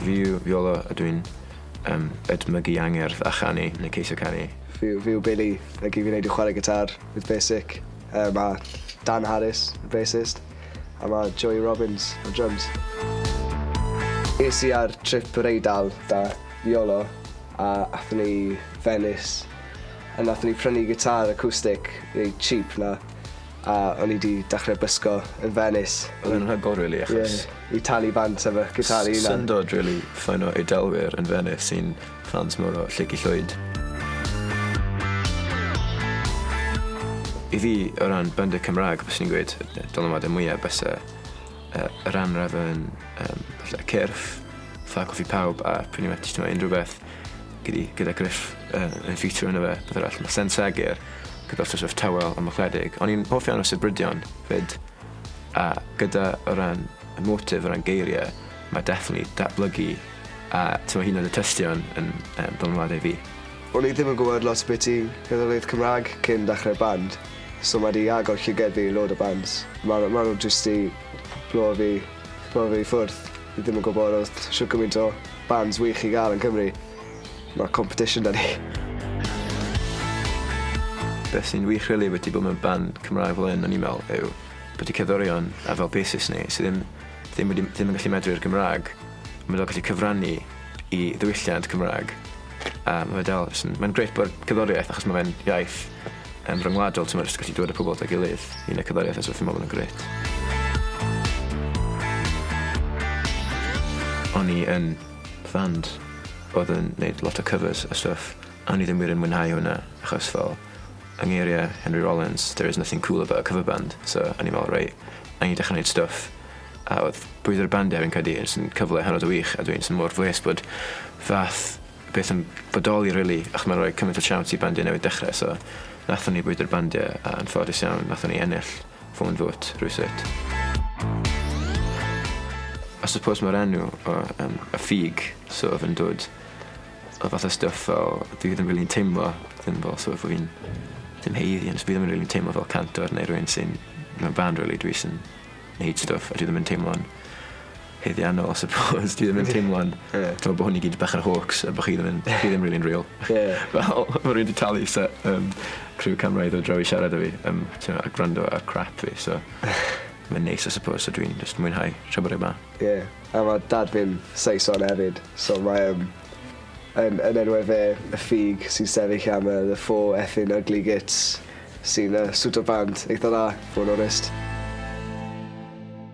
Fi yw Iolo a dwi'n um, edmygu angerdd a chanu yn y ceisio canu. Fi, fi yw Billy, a gyd fi'n neud i chwarae gitar with Basic. Uh, mae Dan Harris, y bassist, a mae Joey Robbins, y drums. Es i ar trip yr Eidal da Iolo a athyn ni Venice a nathyn ni prynu gitar acoustic neu cheap na A o'n i 'di dechre bysgo yn Venice. Odd e'n rhagor rili achos... Ie i talu bant efo gitâr 'i 'unan. Syndod rili ffaino Eidalwyr yn Venice sy'n ffans mowr o Lleucu Llwyd. I fi o ran band y Cymrag fyswn i'n gweud y dylanwade mwya byse yy yr anrefn yym falle cyrff fatha Coffi Pawb a pretty much t'mo' unryw beth Gyda, gyda Griff yn, yn ffitio yna fe, beth arall, mae Sen Seger, gyda'r sort of tawel am ychledig. O'n i'n hoff iawn o Sibrydion, fyd, a gyda o ran y motif, o ran geiriau, mae definitely datblygu a tyma hyn oedd y tystion yn um, dylanwadau fi. O'n i ddim yn gwybod lot beth i gerddoriaeth Cymraeg cyn dechrau'r band, so mae di agor llyged fi i load o bands. Mae ma nhw jyst i blow fi, blow fi i ffwrdd. Fi ddim yn gwybod os shwt gymaint o bands wych i gael yn Cymru. Mae competition da ni. Beth sy'n wych rili wedi bod mewn band Cymraeg fel hyn o'n i'n meddwl yw bod y cerddorion a fel basis ni sydd ddim, ddim, wedi, ddim yn gallu medru'r Gymraeg ond mae dal gallu cyfrannu i ddiwylliant Cymraeg a mae dal, mae'n greit bod cerddoriaeth achos mae fe'n iaith Yn ryngwladol ti'n jyst gallu dod a pobol at ei gilydd i neud cerddoriaeth a stwff fi'n me'wl bod o'n grêt. O'n i yn fand odd yn neud lot o cyfers a stwff a o'n i ddim wir yn mwynhau hwnna achos fel yng ngeirie Henry Rollins there is nothing cool about a cover band so o'n i me'wl reit na'i ni dechre neud stwff a odd bwyd yr bandia fi'n credu jyst yn cyfle hynod o wych a dwi'n jys mor blês bod fath beth yn bodoli rili achos ma'n roi cymaint o siawns i bandiau newydd dechre so nathon ni bwydo'r bandiau a yn ffodus iawn nathon ni ennill Fôn Fwt rywsut. I suppose ma'r enw o yym y ffug so odd e'n dod o fath o stwff fel dyw 'i ddim rili'n teimlo ddim fel so bo' fi'n dim haeddu ond fi ddim yn rili'n teimlo fel cantor neu rywun sy'n mewn band rili dwi jys yn neud stwff a dwi ddim yn teimlo'n haeddiannol I suppose dwi ddim yn teimlo'n... Ie. ...dwi me'wl bo hwn i gyd bach yn hoax a bo chi ddim yn chi ddim rili'n real. Ie. Fel ma' rywun 'di talu se- yym criw camera i ddod draw i siarad 'da fi yym t'mo' a gwrando ar crap fi so mae'n neis I suppose so dwi'n jyst mwynhau tra bod e 'ma. Ie a ma' dad fi'n Saeson efyd so mae yym yn yn enwe fe y ffug sy'n sefyll am yy the four effin ugly gits sy'n yy swto bant eitha dda, fo' yn onest.